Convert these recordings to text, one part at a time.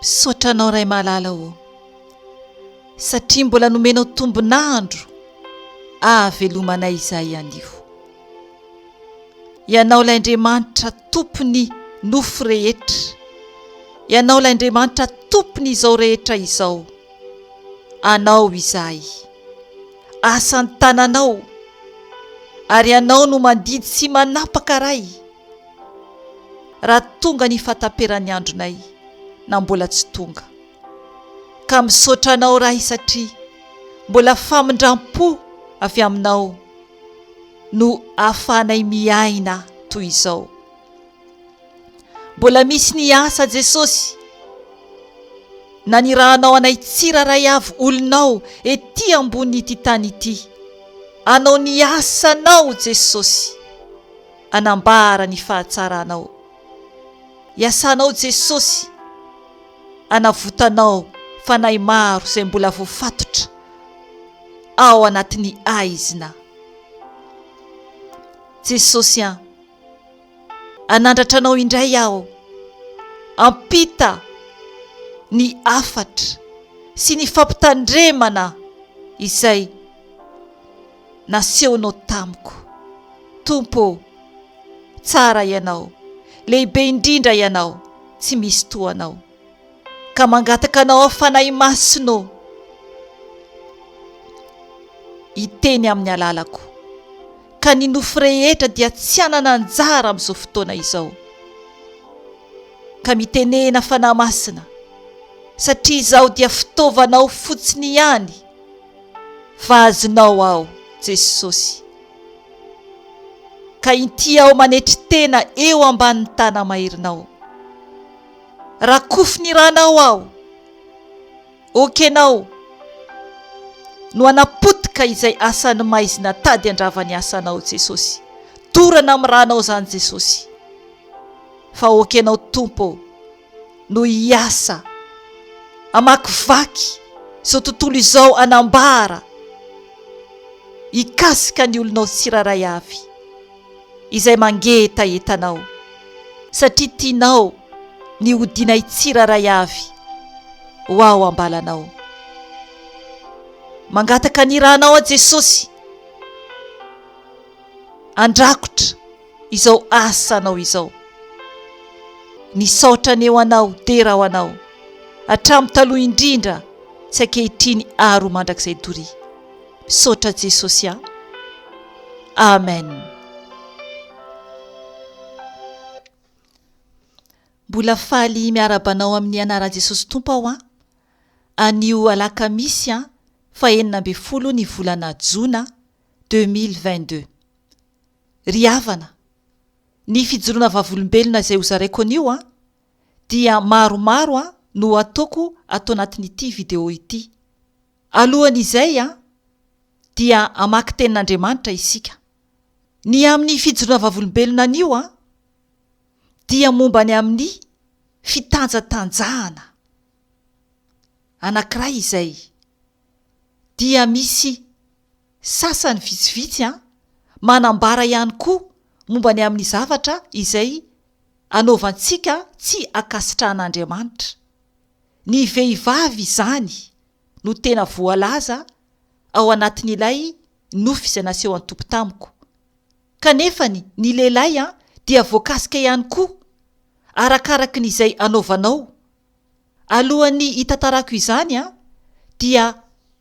Misaotra anao Ray malala ô satria mbola nomenao tombon'andro ahavelomanay izahay anio. Ianao ilay Andriamanitra tompon'ny nofo rehetra, Ianao ilay Andriamanitra tompon'izao rehetra izao, Anao izahay asan-tananao ary ianao no mandidy sy manapaka Ray raha tonga ny fahataperan'ny andronay na mbola tsy tonga ka misaotra anao Ray satria mbola famindram-po avy aminao no ahafahanay miaina toy izao Mbola misy ny asa Jesosy nanirahanao anay tsiraray avy olonao ety ambony ity tany ity anao ny asanao Jesosy anambara ny fahatsaranao iasanao Jesosy anavotanao fanahy maro izay mbola voafatotra ao anatin'ny aizina Jesosy an hanandratra anao indray aho. Ampita ny hafatra sy ny fampitandremana izay nasehonao tamiko. Tompo ô! Tsara Ianao, lehibe indrindra Ianao, tsy misy toa Anao. ka mangataka anao aho Fanahy Masina ô hiteny amin'ny alalako ka ny nofo rehetra dia tsy hanana anjara amin'izao fotoana izao ka mitenena Fanahy Masina satria izaho dia fitaovanao fotsiny ihany fa azonao aho Jesosy ka inty aho manetry tena eo ambanin'ny tanamairinao Rakofy ny ranao aho. Okenao no hanapotika izay asan'ny maizina tady handrava ny asanao Jesosy. Dorana amin'ny ranao izany Jesosy. Fa okenao Tompo no hiasa amakivaky izao tontolo izao anambara hikasika ny olonao tsirairay avy. izay mangetaheta anao, satria tianao ny ho dinay tsirairay avy ho ao am-balanao. Mangataka ny Ra nao aho Jesosy, andrakotra izao asa anao izao. Nisaotra ny eo anao, dera ho anao, hatramin'ny taloha indrindra sy ankehitriny ary ho mandrakizay doria. Misaotra Jesosy a! Amen! Mbola faly miarahaba anao amin'ny anaran'i Jesosy Tompo aho an! Anio alakamisy an, fahenina ambin'ny folo ny volana jona deux mille vingt deux. Ry havana, ny fijoroana vavolombelona izay hozaraiko anio an, dia maromaro an no ataoko ato anatin'ity video ity. Alohan'izay dia hamaky tenin'Andriamanitra isika. Ny amin'ny fijoroana vavolombelona anio dia momba ny amin'ny fitanjatanjahana anankiray izay dia misy sasany vitsivitsy manambara ihany koa momba ny amin'ny zavatra izay anaovantsika tsy ankasitrahan'Andriamanitra. Ny vehivavy izany no tena voalaza ao anatin'ilay nofy izay naseho an'i Tompo tamiko. Kanefany ny lehilahy dia voakasika ihany koa, arakaraky ny izay anaovanao. Alohan'ny hitantarako izany dia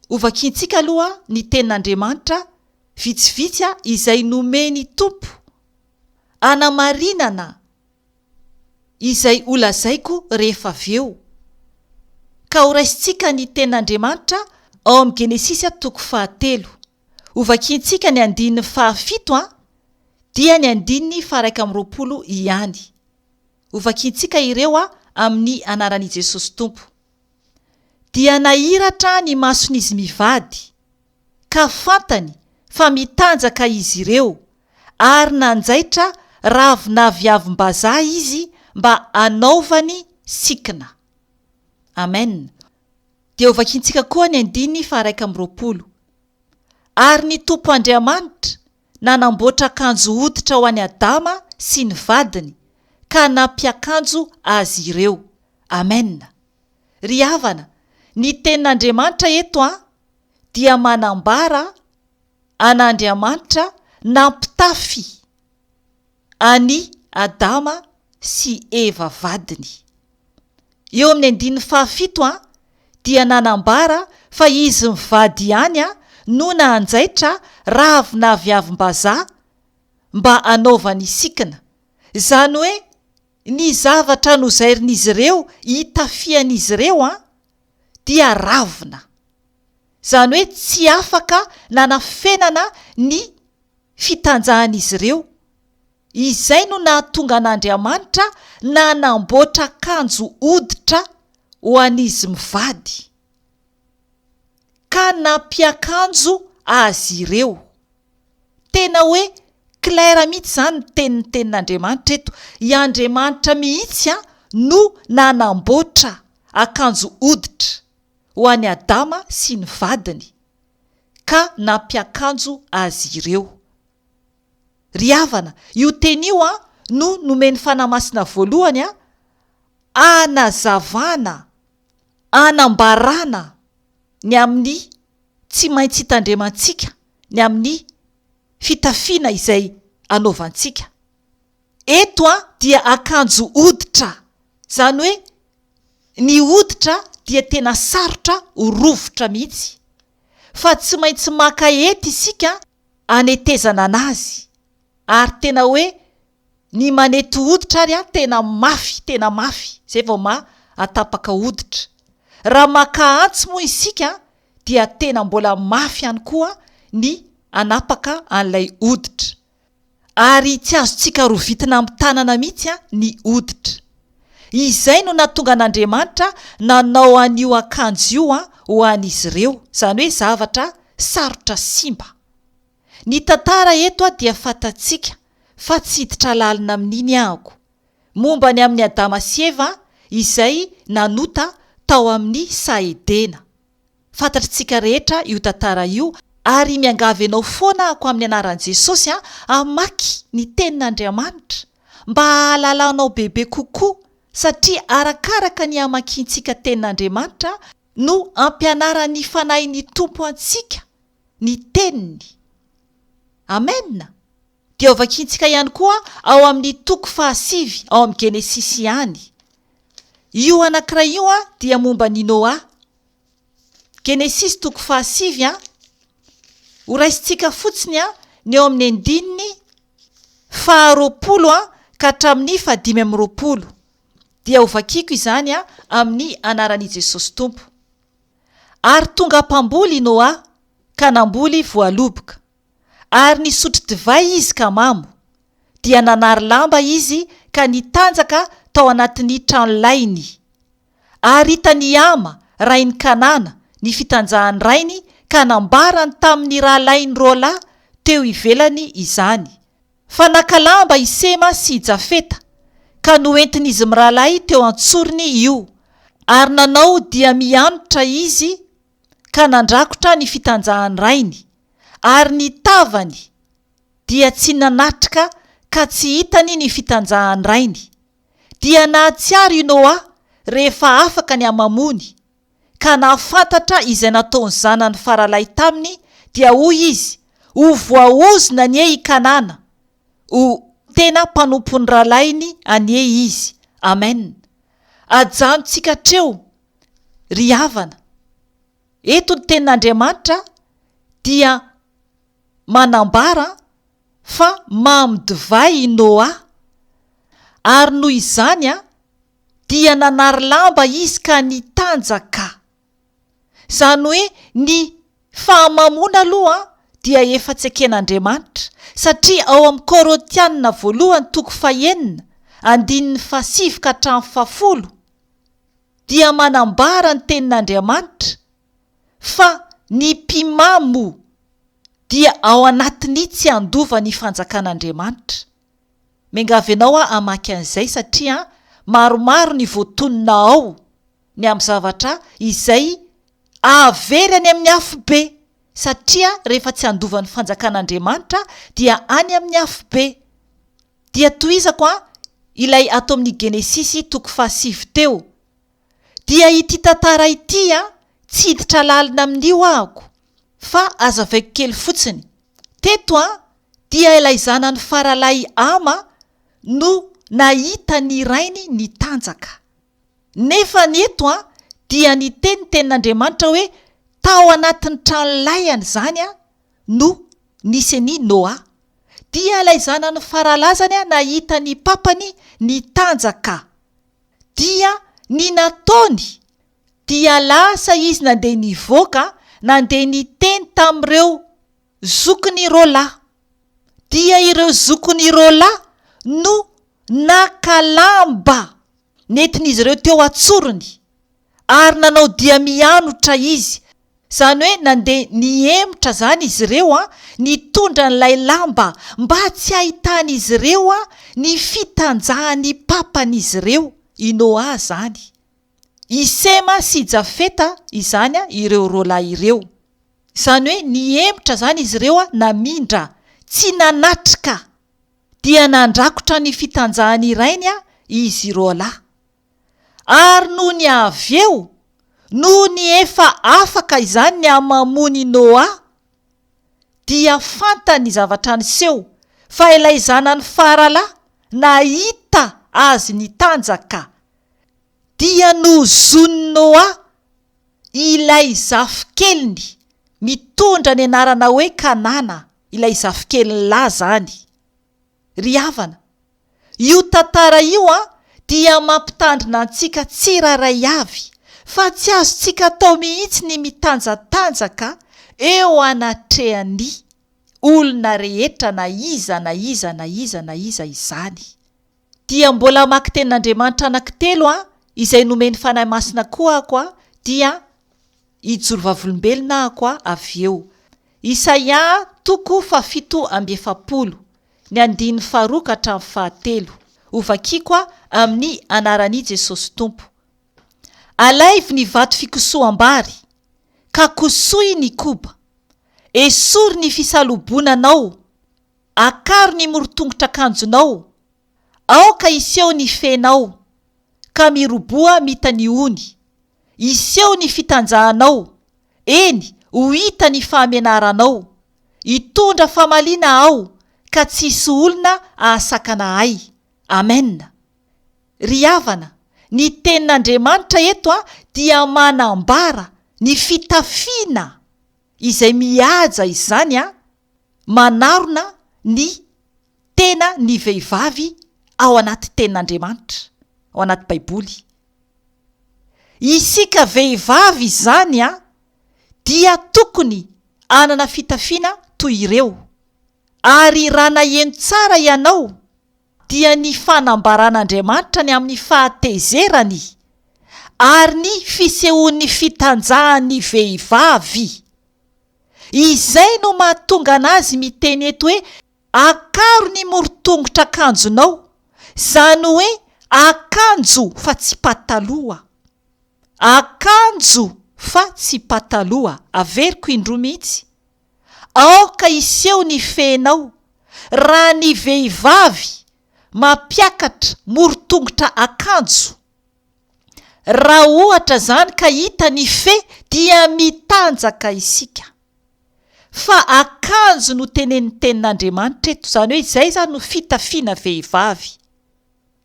hovakiantsika aloha ny Tenin'Andriamanitra vitsivitsy izay nomen'i Tompo hanamarinana izay holazaiko rehefa avy eo, ka horaisintsika ny Tenin'Andriamanitra ao amin'ny Genesisy toko fahatelo. Hovakiantsika ny andininy fahafito, dia ny andininy faha-iraika amby roapolo ihany. Hovakiantsika ireo amin'ny anaran'i Jesosy Tompo. Dia nahiratra ny mason'izy mivady. ka fantany fa mitanjaka izy ireo ary nanjaitra ravin'aviavim-bazaha izy mba hanaovany sikina. Amen. Dia hovakintsika koa ny andininy faha-iraika amby roapolo. Ary ny Tompo Andriamanitra nanamboatra akanjo hoditra ho an'i Adama sy ny vadiny ka nampiakanjo azy ireo. Amen. Ry havana, ny tenin'Andriamanitra eto an, dia manambara an'Andriamanitra nampitafy an'i Adama sy Eva vadiny. Eo amin'ny andininy fahafito dia nanambara fa izy mivady ihany no nanjaitra rahavinaviavim-bazaha mba hanaovany sikina, izany hoe ny zavatra nozairin'izy ireo hitafian'izy ireo dia ravina. Izany hoe tsy afaka nanafenana ny fitanjahan'izy ireo. Izay no nahatonga an'Andriamanitra nanamboatra akanjo hoditra ho an'izy mivady, ka nampiakanjo azy ireo. Tena hoe claire mihitsy izany ny teny nitenin'Andriamanitra eto. I Andriamanitra mihitsy no nanamboatra akanjo hoditra ho an'i Adama sy ny vadiny ka nampiakanjo azy ireo. Ry havana, io teny io no nomen'ny Fanahy Masina voalohany hanazavana, hanambarana ny amin'ny. tsy maintsy hitandremantsika ny amin'ny fitafiana izay anaovantsika. Eto an dia akanjo hoditra, izany hoe ny hoditra dia tena sarotra ho rovitra mihitsy fa tsy maintsy maka hety isika hanetezana an'azy ary tena hoe Ny manety hoditra ary an tena mafy tena mafy izay vao ma atapaka hoditra. Raha maka antsy moa isika an dia tena mbola mafy ihany koa ny anapaka an'ilay hoditra. Ary tsy azontsika rovitina amin'ny tanana mihitsy an ny hoditra. Izay no natonga an'Andriamanitra nanao an'io akanjo io an ho an'izy ireo, izany hoe zavatra sarotra simba. Ny tantara eto dia fantatsika fa tsy hiditra lalina amin'iny anko. Momba ny amin'i Adama sy Eva izay nanota tao amin'ny saha Edena. Fantatritsika rehetra io tantara io ary miangavy anao foana ako amin'ny anaran'i Jesosy hamaky ny tenin'Andriamanitra mba hahalalanao bebe kokoa satria arakaraka ny hamakiantsika tenin'Andriamanitra no ampianaran'ny Fanahin'ny Tompo antsika ny Teniny. Amena. Dia hovakintsika ihany koa ao amin'ny toko fahasivy ao amin'ny Genesisy ihany. Io anankiray io dia momba an'i Noa. Genesisy toko fahasivy an. Horaisintsika fotsiny an ny ao amin'ny andininy faharoapolo an ka hatramin'ny fahadimy amby roapolo. Dia hovakiko izany an amin'ny anaran'i Jesosy Tompo. Ary tonga mpamboly i Noa ka namboly voaloboka. Ary nisotro divay izy ka mamo. Dia nanary lamba izy ka nitanjaka tao anatin'ny tranolainy. Ary hitan'i Hama, rain'i Kanana, ny fitanjahan'ny rainy ka nambarany tamin'ny rahalainy roalahy teo ivelany izany. Fa naka lamba i Sema sy i Jafeta, ka noentin'izy mirahalahy teo an-tsorony io, ary nanao dia mianotra izy ka nandrakotra ny fitanjahan'ny rainy, ary ny tavany dia tsy nanatrika ka tsy hitany ny fitanjahan'ny rainy. Dia nahatsiaro i Noa rehefa afaka ny hamamoany, ka nahafantatra izay nataon'ny zanany faralahy taminy, dia hoy izy, Ho voaozona anie i Kanana, ho tena mpanompon'ny rahalahiny anie izy. Amen. Ajanontsika hatreo, ry havana. Eto ny Tenin'Andriamanitra dia manambara fa mamy divay i Noa, ary noho izany, dia nanary lamba izy ka nitanjaka. Izany hoe ny fahamamoana aloha dia efa tsy eken'Andriamanitra, satria ao amin'ny Korintiana voalohany toko fahenina, andininy fahasivy ka hatramin'ny fahafolo, dia manambara ny tenin'Andriamanitra fa ny mpimamo dia ao anatin'ny tsy handova ny fanjakan'Andriamanitra. Miangavy anao aho hamaky an'izay satria maromaro ny voatonona ao ny amin'ny zavatra izay ahavery any amin'ny afobe satria rehefa tsy andovan'ny fanjakan'Andriamanitra dia any amin'ny afobe. Dia tohizako an ilay ato amin'ny Genesisy toko fahasivy teo. dia ity tantara ity an! tsy hiditra lalina amin'io ahako fa aza avaiko kely fotsiny. Teto an! dia ilay zanany faralahy ama no nahita ny rainy nitanjaka. Nefa ny eto an! dia ny teny tenin'Andriamanitra hoe tao anatin'ny trano lahiany izany an! no nisy an'i Noa. Dia ilay zanany faralazany an! nahita ny papany nitanjaka. dia ny nataony dia lasa izy nandeha nivoaka nandeha niteny tamin'ireo zokin'i Rola, dia ireo zokin'i Rola no naka lamba nentin'izy ireo teo an-tsorony Ary nanao dia mianotra izy, izany hoe nandeha nihemotra izany izy ireo, nitondra an'ilay lamba mba tsy hahitan'izy ireo ny fitanjahan'ny papan'izy ireo, i Noa izany. I Sema sy i Jafeta izany ireo roalahy ireo. Izany hoe nihemotra izany izy ireo, namindra, tsy nanatrika, dia nandrakotra ny fitanjahan'ny rainy izy roalahy. Ary nony avy eo, nony efa afaka izany ny hamamon'i Noa, dia fantany ny zavatra niseho, fa ilay zanany faralahy nahita azy nitanjaka, dia nozonin'i Noa ilay zafikeliny mitondra ny anarana hoe Kanana, ilay zafikeliny lahy izany. Ry havana, io tantara io an dia mampitandrina antsika tsirairay avy fa tsy azontsika atao mihitsy ny mitanjatanjaka eo anatrehan'ny olona rehetra na iza na iza na iza na iza izany. Dia mbola hamaky tenin'Andriamanitra anankitelo an izay nomen'ny Fanahy Masina koa ako an dia Hijoro vavolombelona ahako aho avy eo. Isaia toko fahafito amby efapolo, ny andininy faharoa ka hatramin'ny fahatelo. Hovakiako aho amin'ny anaran'I Jesosy Tompo. Alaivo ny vato fikosoham-bary, ka kosohy ny koba. Esory ny fisalobonanao. Akaro ny morotongotr'akanjonao. Aoka hiseho ny fenao, ka miroboha mita ny ony, hiseho ny fitanjahanao, eny, ho hita ny fahamenaranao, hitondra famaliana Aho ka tsy hisy olona hahasakana Ahy. Amena. Ry havana, ny Tenin'Andriamanitra eto dia manambara ny fitafiana izay mihaja izany an! manarona ny tena ny vehivavy ao anaty tenin'Andriamanitra, ao anaty baiboly. Isika vehivavy izany a, dia tokony hanana fitafiana toy ireo. Ary raha naheno tsara ianao, dia ny fanambaran'Andriamanitra ny amin'ny fahatezerany ary ny fisehoan'ny fitanjahan'ny vehivavy. Izay no mahatonga an'azy miteny eto hoe akaro ny morotongotra akanjonao, izany hoe akanjo fa tsy pataloha. Akanjo fa tsy pataloha, averiko indroa mihitsy. Aoka hiseho ny fehinao raha ny vehivavy mampiakatra morontongotra akanjo. Raha ohatra izany ka hita ny fe dia mitanjaka isika. Fa akanjo no tenenin'ny tenin'Andriamanitra eto, izany hoe izay izany no fitafiana vehivavy.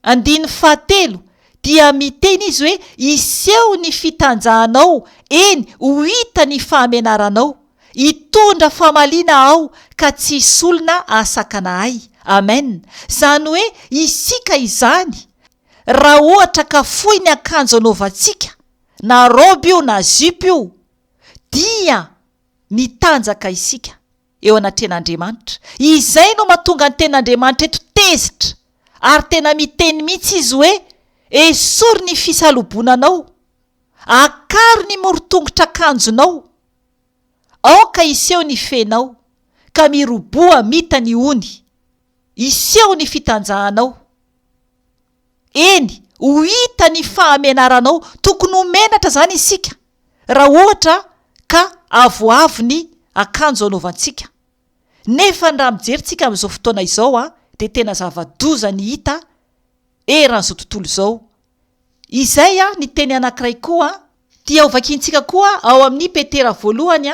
Andininy fahatelo, dia miteny izy hoe, Hiseho ny fitanjahanao, eny, ho hita ny fahamenaranao. Hitondra famaliana Aho, ka tsy hisy olona hahasakana Ahy. Amen. Izany hoe isika izany, raha ohatra ka fohy ny akanjo anaovantsika, na raoby io na zipo io, dia mitanjaka isika. eo anatrehan'Andriamanitra. Izay no mahatonga ny tenin'Andriamanitra eto tezitra, ary tena miteny mihitsy izy hoe, Esory ny fisalobonanao, akaro ny morotongotr'akanjonao, aoka hiseho ny fenao, ka miroboha mita ny ony, hiseho ny fitanjahanao. Eny, ho hita ny fahamenaranao. Tokony ho menatra izany isika, raha ohatra ka avoavo ny akanjo anaovantsika. Nefa ny raha mijerintsika amin'izao fotoana izao, dia tena zava-doza ny hita eran'izao tontolo izao. Izay ny teny anankiray koa dia hovakiantsika koa ao amin'ny Petera voalohany,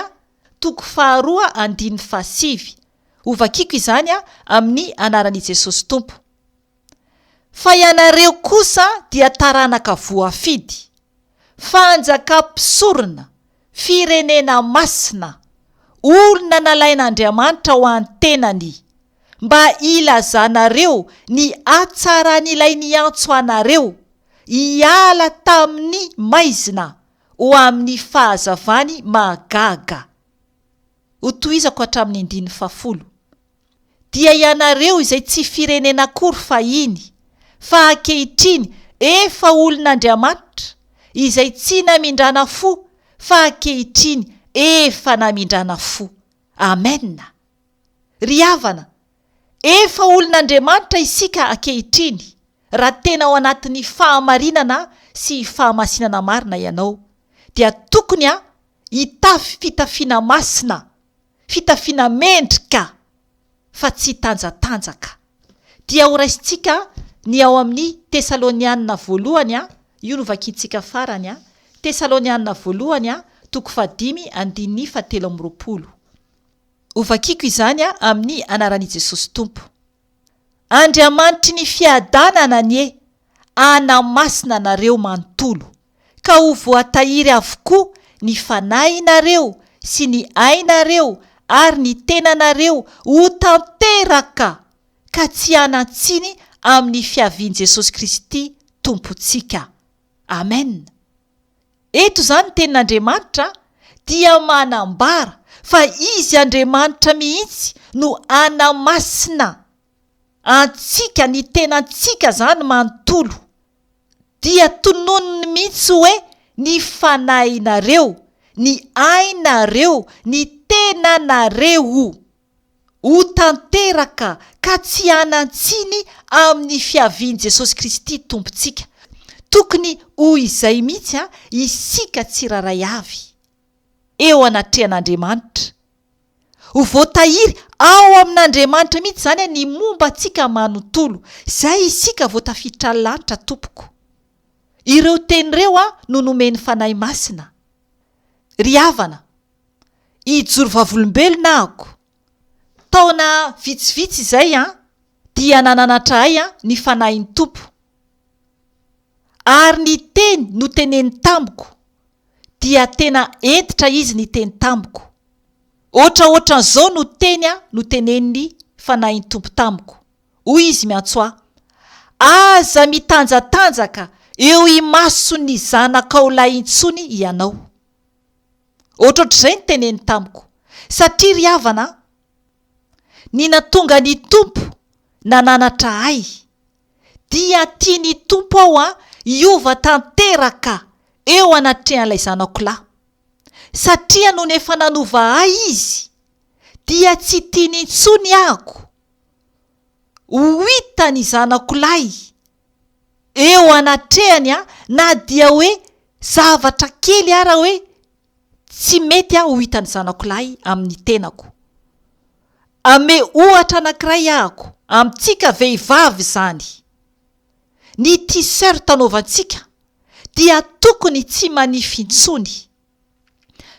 toko faharoa, andininy fahasivy. Hovakiako izany amin'ny anaran'i Jesosy Tompo. fa ianareo kosa dia taranaka voafidy, fanjakam-pisorona, firenena masina, olona nalain'Andriamanitra ho antenany, mba hilazanareo ny hatsaran'Ilay niantso anareo hiala tamin'ny maizina ho amin'ny fahazavany mahagaga. Ho tohizako hatramin'ny andininy fahafolo. Dia ianareo izay tsy firenena akory fahiny, fa ankehitriny efa olon'Andriamanitra, izay tsy namindrana fo, fa ankehitriny efa namindrana fo. Amena. Ry havana, efa olon'Andriamanitra isika ankehitriny, raha tena ao anatin'ny fahamarinana sy fahamasinana marina ianao, dia tokony hitafy fitafiana masina, fitafiana mendrika fa tsy hitanjatanjaka. Dia horaisintsika ny ao amin'ny Tesalonianina Voalohany, io no vakintsika farany, Tesalonianina Voalohany toko fahadimy andininy fahatelo amby roapolo. Hovakiko izany amin'ny anaran'i Jesosy Tompo. Andriamanitry ny fiadanana anie hanamasina anareo manontolo, ka ho voatahiry avokoa ny fanahinareo sy ny ainareo ary ny tenanareo ho tanteraka ka tsy hanan-tsiny amin'ny fiavian'i Jesosy Kristy Tompontsika. Amen. Eto izany ny tenin'Andriamanitra dia manambara fa Izy Andriamanitra mihitsy no hanamasina antsika, ny tenantsika izany manontolo. Dia tononiny mihitsy hoe ny fanahinareo, ny ainareo, ny tenanareo. ho tanteraka ka tsy hanan-tsiny amin'ny fiavian'i Jesosy Kristy Tompontsika. Tokony ho izay mihitsy isika tsirairay avy, eo anatrehan'Andriamanitra. Ho voatahiry ao amin'Andriamanitra mihitsy izany ny momba antsika manontolo. Izay isika vao tafiditra ny lanitra tompoko. Ireo teny ireo no nomen'ny Fanahy Masina. Ry havana, hijoro vavolombelona ahako. Taona vitsivitsy izay dia nananatra ahy ny Fanahin'ny Tompo. Ary ny teny noteneniny tamiko dia tena hentitra Izy niteny tamiko. Hoatra hoatran'izao no teny notenenin'ny Fanahin'ny Tompo tamiko. Hoy Izy miantso ahy, Aza mitanjatanjaka eo imason'ny zanakao lahy intsony ianao. Ohatrohatr'izay ny teneny tamiko. Satria ry havana an! ny nahatonga ny Tompo nananatra ahy, dia tian'ny Tompo aho hiova tanteraka eo anatrehan'ilay zanako lahy. Satria nony efa nanova ahy Izy, dia tsy tiany intsony ahako ho hita ny zanako lahy. eo anatrehany an, na dia hoe zavatra kely ara hoe tsy mety aho ho hitan'ny zanako lahy amin'ny tenako. Ame ohatra anankiray ahako, amintsika vehivavy izany, ny t-shirt anaovantsika dia tokony tsy manify intsony.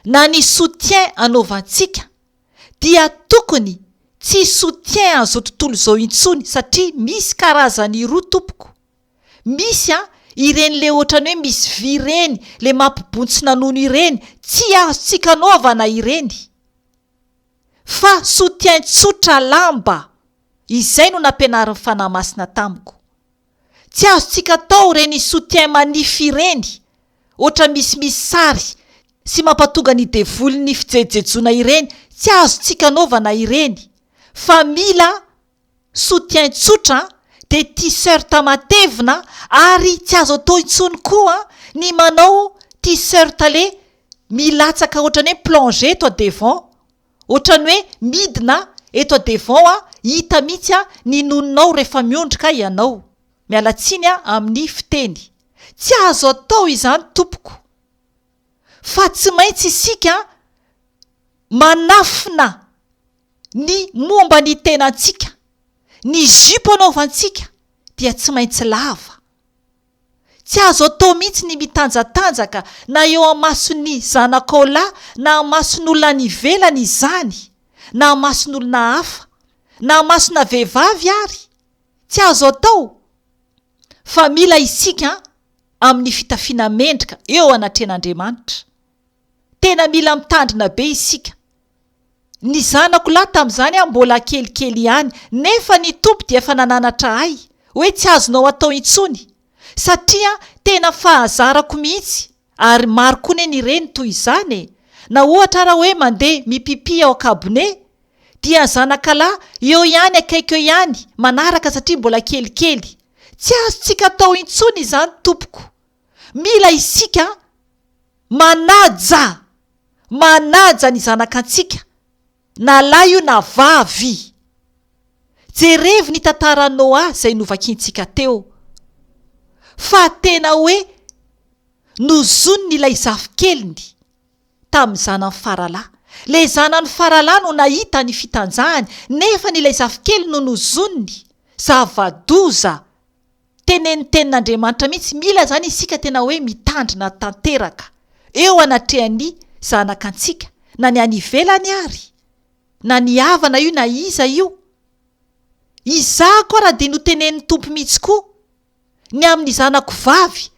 na ny soutien anaovantsika dia tokony tsy soutien an'izao tontolo izao intsony satria misy karazany roa tompoko, misy an ireny le otrany hoe misy vy ireny le mampibontsina nono ireny tsy azontsika anaovana ireny fa soutien tsotra lamba izay no nampianarin'ny fanahy masina tamiko. Tsy azontsika atao ireny soutien manifs ireny ohatra misimisy sary sy mampatonga ny devoly ny fijejojejoana ireny tsy azontsika anaovana ireny fa mila soutien tsotra dia t-shirt matevina ary tsy azo atao intsony koa ny manao t-shirt le milatsaka ohatra ny hoe plonge eto devant Otrany hoe midina eto devant a hita mihitsy a ny nononao refa miondrika ianao. Miala tsiny a amin'ny fiteny. Tsy azo atao izany tompoko. Fa tsy maintsy isika manafina ny momba ny tenantsika. Ny zipo anaovantsika dia tsy maintsy lava. Tsy azo atao mihitsy ny mitanjatanjaka na eo amason'ny zanakao lahy na amason'olona any ivelany izany na amason'olona hafa na amasona vehivavy ary tsy azo atao fa mila isika amin'ny fitafiana mendrika eo anatrehan'Andriamanitra tena mila mitandrina be isika Ny zanako lahy tamin'izany aho mbola kelikely ihany, nefa ny Tompo dia efa nananatra ahy hoe tsy azonao atao intsony, satria tena fahazarako mihitsy, ary maro koa anie ny reny toy izany e! na ohatra ara hoe mandeha mipipy ao an-kabone dia zanakalahy eo ihany akaiky eo ihany manaraka satria mbola kelikely, tsy azontsika atao intsony izany tompoko, mila isika manaja! manaja ny zanakantsika na lahy io na vavy. Jerevo ny tantaran'i Noa izay novakiantsika teo fa tena hoe nozoniny ilay zafikeliny tamin'ny zanany faralahy. Ilay zanany faralahy no nahita ny fitanjahany nefa ny ilay zafikeliny no nozoniny, zava-doza. Tenenitenin'Andriamanitra mihitsy, mila izany isika tena hoe mitandrina tanteraka eo anatrehan'ny zanakantsika, na ny any ivelany ary, na ny havana io na iza io. Izaho koa ary dia notenenin'ny Tompo mihitsy koa ny amin'ny zanako vavy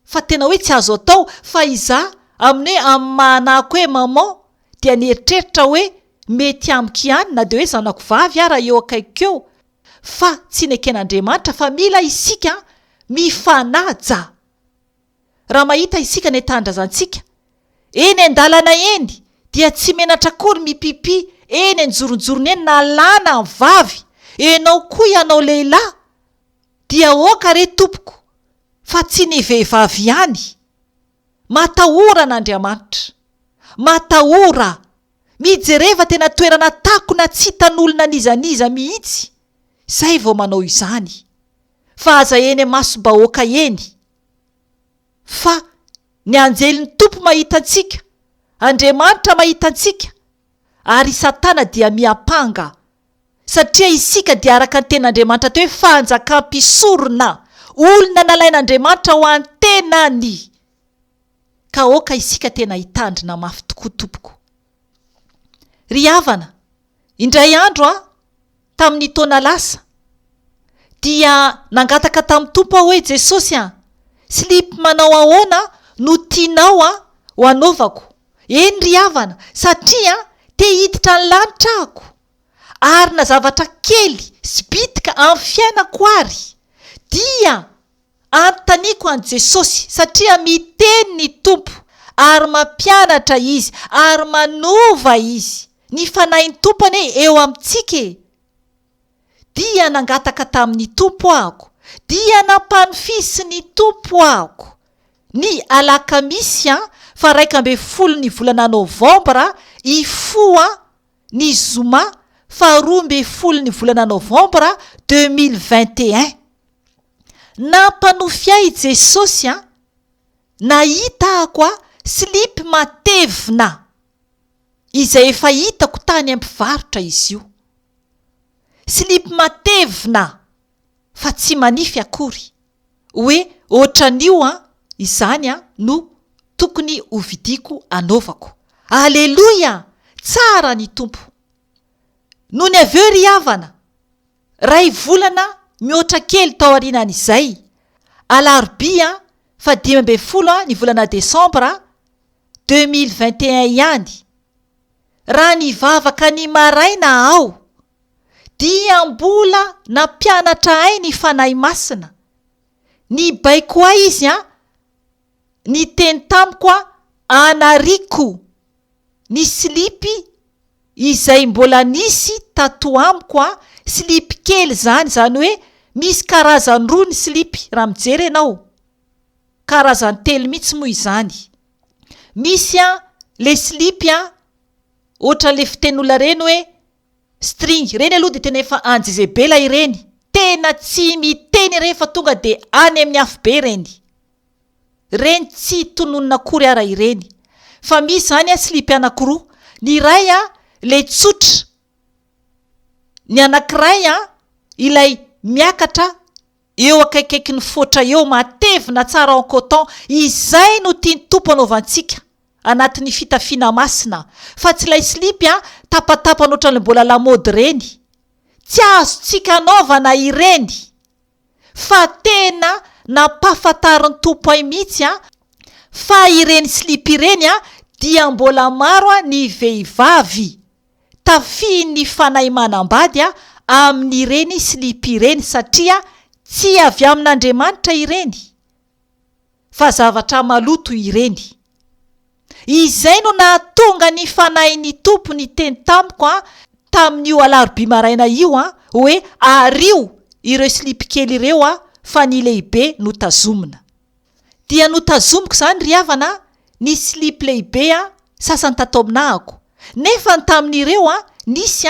fa tena hoe tsy azo atao fa izaho amin'ny hoe amin'ny maha anako hoe maman dia nieritreritra hoe mety amiko ihany na dia hoe zanako vavy ara eo akaikiko eo Fa tsy neken'Andriamanitra fa mila isika mifanaja. Raha mahita isika ny tanindrazantsika eny an-dalana eny dia tsy menatra akory mipipi eny an-joronjorona eny na lahy na vavy, enao koa ianao lehilahy dia aoka re tompoko fa tsy ny vehivavy ihany. Matahora an'Andriamanitra. Matahora. Mijereva tena toerana takona tsy hitan'olona n'iza n'iza mihitsy izay vao manao izany. Fa aza eny masom-bahoaka eny. Fa ny anjelin'ny Tompo mahita antsika, Andriamanitra mahita antsika, ary i Satana dia miampanga. Satria isika dia araka ny tenin'Andriamanitra teo hoe fanjakam-pisorona, olona nalain'Andriamanitra ho an'ny tenany. ka aoka isika tena hitandrina mafy tokoa tompoko. Ry havana, indray andro an, tamin'ny taona lasa, dia nangataka tamin'ny Tompo aho hoe, Jesosy an, slip manao ahoana no tianao an, ho anaovako? Eny ry havana, satria an, te hiditra ny lanitra ahako, ary na zavatra kely sy bitika amin'ny fiainako ary, dia. Anontaniako an'i Jesosy, satria miteny ny Tompo, ary mampianatra Izy, ary manova Izy. Ny Fanahin'ny Tompo anie eo amintsika e! Dia nangataka tamin'ny Tompo ahako, dia nampanofisin'ny Tompo ahako. Ny alakamisy faha-iraika ambin'ny folon'ny volana novambra hifoha ny zoma faharoa ambin'ny folon'ny volana novambra deux mille vingt et un. Nampanofy ahy i Jesosy an! Nahitako aho slip matevina izay efa hitako tany amin'ny mpivarotra izy io. Slip matevina fa tsy manify akory. hoe otran'io an! izany an! no tokony ho vidiako anaovako. Aleloia! tsara ny Tompo! Nony avy eo ry havana, ray volana mihoatra kely taorianan'izay, alarobia faha dimy ambin'ny folo ny volana desambra deux mille vingt et un ihany, raha nivavaka ny maraina aho, dia mbola nampianatra ahy ny Fanahy Masina, nibaiko ahy Izy an, niteny tamiko an, anariako ny slipy izay mbola nisy tato amiko an, slipy kely izany, izany hoe misy karazany roa ny slipy raha mijery ianao, karazany telo mihitsy moa izany, misy an ilay slipy an, ohatra ilay fitenin'olona ireny hoe. String, ireny aloha dia tena efa any Jezebela ireny, tena tsy miteny ireny fa tonga dia any amin'ny afobe ireny. Ireny tsy tononina akory ara ireny. Fa misy izany a slip anakiroa, ny iray a ilay tsotra, ny anakiray a ilay miakatra Eo akaikaiky ny foatra eo, matevina tsara en coton, izay no tian'ny Tompo anaovantsika, anatin'ny fitafiana masina, fa tsy ilay slipy an, tapatapany ohatran'ilay mbola lamaody ireny. Tsy azontsika anaovana ireny. Fa tena nampahafantarin'ny Tompo ay mihitsy an, fa ireny slipy ireny an, dia mbola maro an ny vehivavy, tafihin'ny fanahy manambady amin'ireny slip ireny satria tsy avy amin'Andriamanitra ireny fa zavatra maloto ireny. Izay no nahatonga ny fanahin'ny Tompo niteny tamiko tamin'io alarobia maraina io hoe ario ireo slip kely ireo fa ny lehibe no tazomina. dia notazomiko izany ry havana ny silipo lehibe sasany tato aminahako, nefa ny tamin'ireo nisy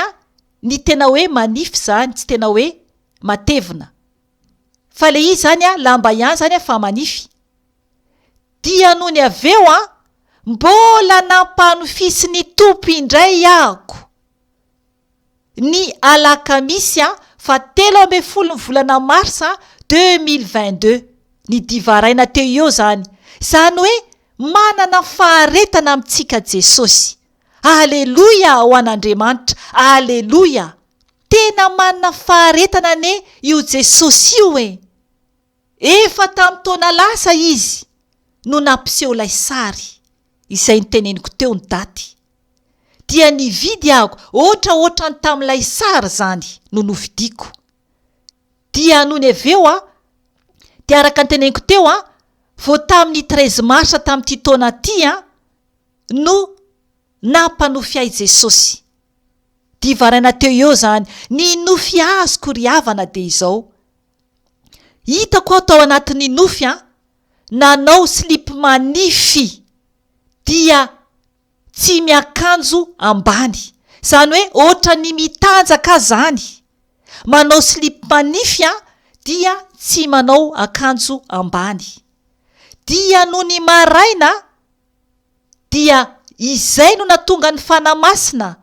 ny tena hoe manify izany, tsy tena hoe matevina fa ilay izy izany lamba ihany izany fa manify, dia nony avy eo mbola nampanofisin'ny Tompo indray aho. ny alakamisy faha telo ambin'ny folo ny volana marsa deux mille vingt deux ny divaraina teo eo izany izany hoe manana faharetana amintsika jesosy aleloia ho an andriamanitra aleloia tena manana faharetana anie io jesosy io e Efa tamin'ny taona lasa izy no nampiseho ilay sary, izay noteneniko teo ny daty. Dia nividy aho, ohatraohatra ny tamin'ilay sary izany no novidiako. Dia nony avy eo aho, dia araka ny teneniko teo an, vao tamin'ny treize mars tamin'ity taona ity an, no nampanofy ahy Jesosy. Dia varaina teo eo izany, ny nofy azoko ry havana dia izao. Hitako aho tao anatin'ny nofy an! nanao slip manify dia tsy miakanjo ambany, izany hoe ohatran'ny mitanjaka aho izany, manao slip manify an dia tsy manao akanjo ambany, dia nony maraina dia izay no natonga ny Fanahy Masina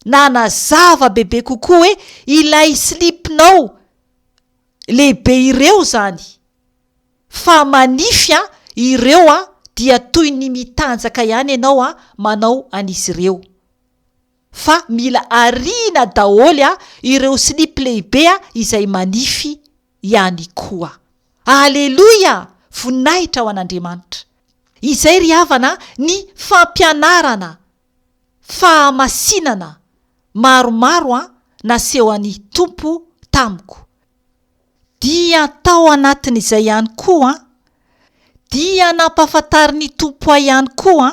nanazava bebe kokoa hoe ilay slip-nao lehibe ireo izany fa manify an ireo an dia toy ny mitanjaka ihany ianao an manao an'izy ireo fa mila ariana daholo an ireo slip lehibe an izay manify ihany koa aleloia voninahitra ho an'Andriamanitra izay ry havana ny fampianarana fahamasinana maromaro nasehon'ny Tompo tamiko, dia tao anatin'izay ihany koa dia nampahafantarin'ny Tompo ahy ihany koa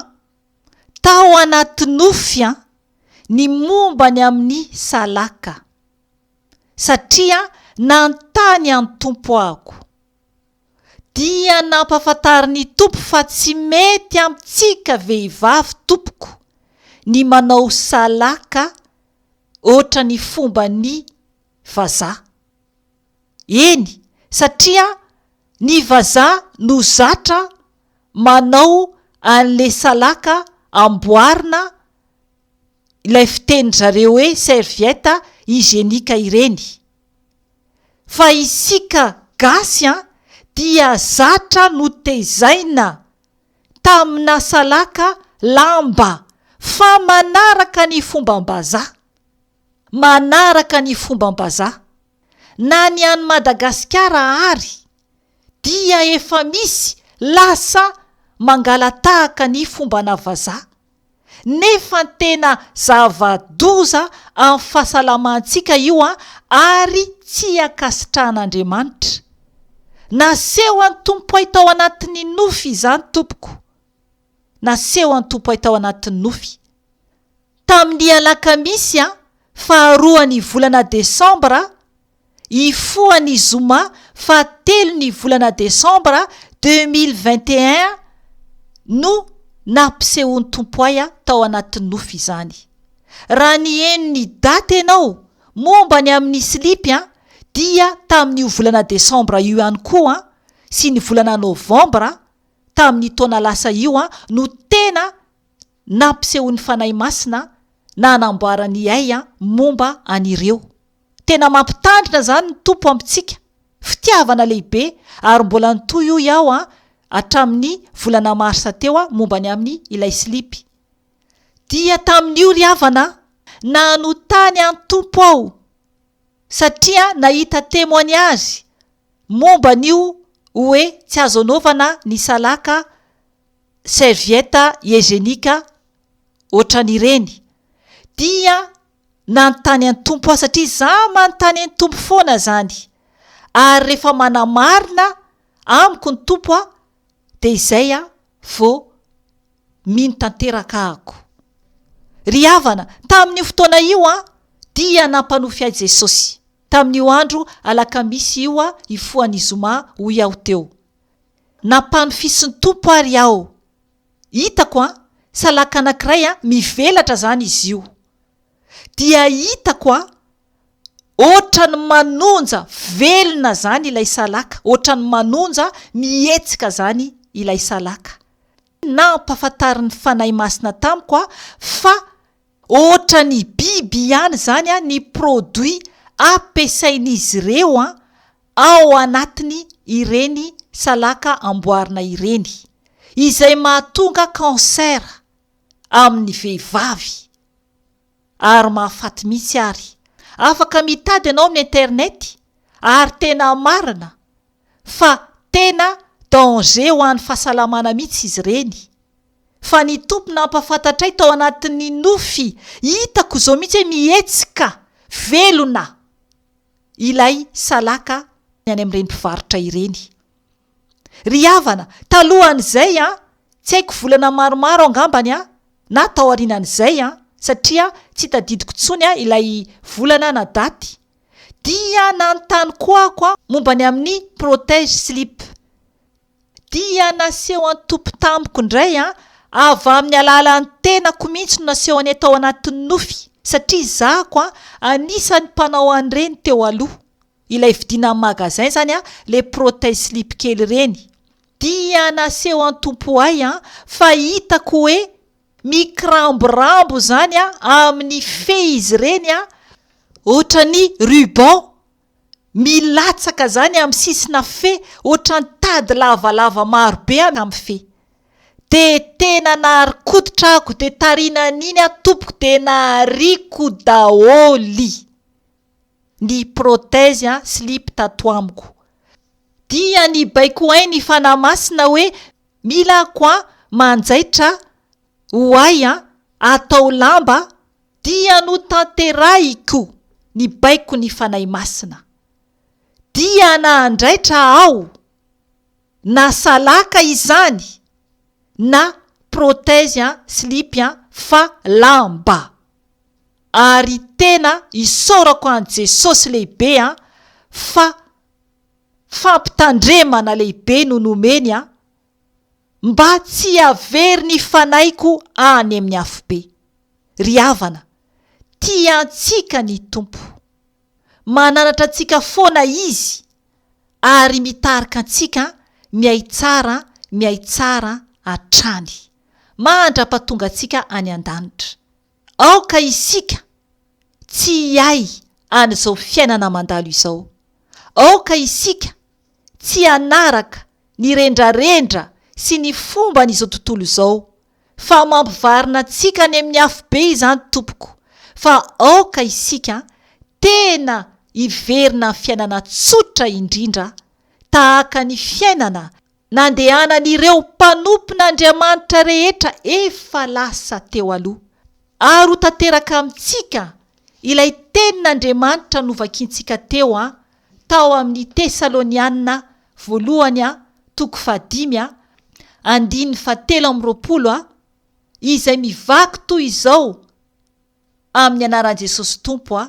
tao anaty nofy ny momba ny amin'ny salaka, satria nanontany an'i Tompo aho. dia nampafantarin'ny Tompo fa tsy mety amintsika vehivavy tompoko ny manao salaka hoatra ny fomban'ny vazaha. Eny satria ny vazaha no zatra manao an'le salaka amboarina ilay fitenin-dry zareo hoe serviette hygienique ireny. Fa isika gasy an, dia zatra notezaina tamina salaka lamba fa manaraka ny fombam-bazaha. Manaraka ny fombam-bazaha. Na ny any Madagasikara ary dia efa misy lasa mangalatahaka ny fombana vazaha. nefa tena zava-doza amin'ny fahasalamantsika io ary tsy ankasitrahan'Andriamanitra. Nasehon'ny Tompoay tao anatin'ny nofy izany tompoko. Nasehon'ny Tompoay tao anatin'ny nofy. Tamin'ny alakamisy faharoan'ny volana desambra, Hifoha ny zoma faha telo ny volana desambra deux mille vingt et un no nampisehoan'i Tompoaya tao anaty nofy izany. Raha niheno ny daty ianao momba ny amin'ny slipy an, dia tamin'io volana desambra io ihany koa an, sy ny volana novambra tamin'ny taona lasa io an no tena nampisehoan'ny Fanahy Masina na anamboarany ihay momba an'ireo. Tena mampitandrina izany ny Tompo amintsika. Fitiavana lehibe ary mbola nitohy hoy aho hatramin'ny volana marsa teo momba ny amin'ny ilay slipy. Dia tamin'io ry havana nanotany an'i Tompo aho satria nahita temoignazy momba an'io hoe tsy azo anaovana ny salaka serviette hygienique ohatran' ireny dia nanontany an' Tompo aho satria izaho manontany an' Tompo foana izany ary rehefa manamarina amiko ny Tompo aho dia izay aho vao mino tanteraka ako. Ry havana, tamin' io fotoana io aho dia nampanofy ahy Jesosy, tamin' io andro alakamisy io hifoha ny zoma hoy aho teo. Nampanofisin'ny Tompo ary aho. Hitako an, salaka anankiray an, mivelatra izany izy io. Dia hitako an, ohatran'ny manonja, velona izany ilay salaka, ohatran'ny manonja, mihetsika izany ilay salaka. Nampahafantarin'ny Fanahy Masina tamiko aho fa. Ohatra ny biby ihany izany ny produit ampiasain'izy ireo ao anatiny ireny salaka amboarina ireny, izay mahatonga cancer amin'ny vehivavy ary mahafaty mihitsy ary. Afaka mitady ianao amin'ny internet ary tena marina fa tena danger ho an'ny fahasalamana mihitsy izy ireny. fa ny Tompo nampahafantatray tao anatin'ny nofy hitako izao mihitsy hoe mihetsika velona ilay salaka ny any amin'ireny mpivarotra ireny. Ry havana, talohan'izay an, tsy haiko volana maromaro aho angambany an, na taorianan'izay an, satria tsy tadidiko intsony ilay volana na daty, dia nanontany koa aho momba ny amin'ny protège slip. Dia naseho an-tompo tamiko indray an, avy amin'ny alalan'ny tenako mihitsy no nasehony tao anatin'ny nofy, satria zako an, anisan'ny mpanao an'ireny teo aloha, ilay vidiana amin'ny magasin izany an, ilay protège slip kely ireny. Dia naseho an-tompo ho ahy an, fa hitako hoe mikiramborambo izany an, amin'ny fehy izy ireny an, ohatran'ny ruban. Milatsaka izany amin'ny sisina fe ohatran'ny tady lavalava maro be amin'ny fe. Dia tena nahari-koditra ako dia tarina an'iny aho tompoko dia nahariako daholo ny prothèse an slip tato amiko. Dia nibaiko ahy ny Fanahy Masina hoe mila ako an manjaitra ho ahy an atao lamba Dia notanterahiko ny baikon'ny Fanahy Masina. Dia nahandraitra aho na salaka izany na prothèse an, slipy an, fa lamba. Ary tena isaorako an'i Jesosy lehibe an, fa fampitandremana lehibe no nomeny an, Mba tsy havery ny fanaiko any amin'ny afobe. Ry havana, tia antsika ny Tompo. Mananatra antsika foana Izy, ary mitarika antsika mihay tsara mihay tsara hatrany, mandra-pahatongantsika any an-danitra. Aoka isika tsy hiahy an'izao fiainana mandalo izao. Aoka isika tsy hanaraka ny rendrarendra sy ny fomban'izao tontolo izao, fa mampivarina antsika any amin'ny afobe izany, Tompoko, fa aoka isika tena hiverina amin'ny fiainana tsotra indrindra, tahaka ny fiainana nandehanan'ireo mpanompon'Andriamanitra rehetra efa lasa teo aloha, ary ho tanteraka amintsika ilay tenin'Andriamanitra novakintsika teo a tao amin'ny Tesaloniana voalohany a toko fahadimy a andininy fahatelo amby roapolo a izay mivaky toy izao amin'ny anaran'i Jesosy Tompo a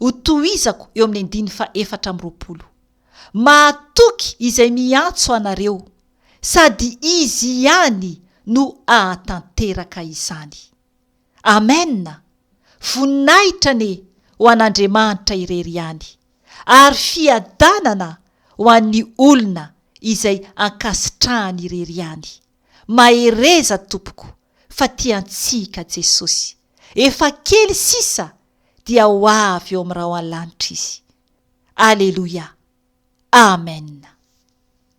Ho tohizako eo amin'ny andininy faha efatra amby roapolo. Mahatoky izay miantso anareo, sady Izy ihany no hahatanteraka izany. Amen! Voninahitra anie ho an'Andriamanitra irery ihany, ary fiadanana ho an'ny olona izay ankasitrahany irery ihany. Mahereza tompoko, fa tiantsika Jesosy. Efa kely sisa dia ho avy eo amin'ny rahona lanitra Izy. Aleloia. Amen.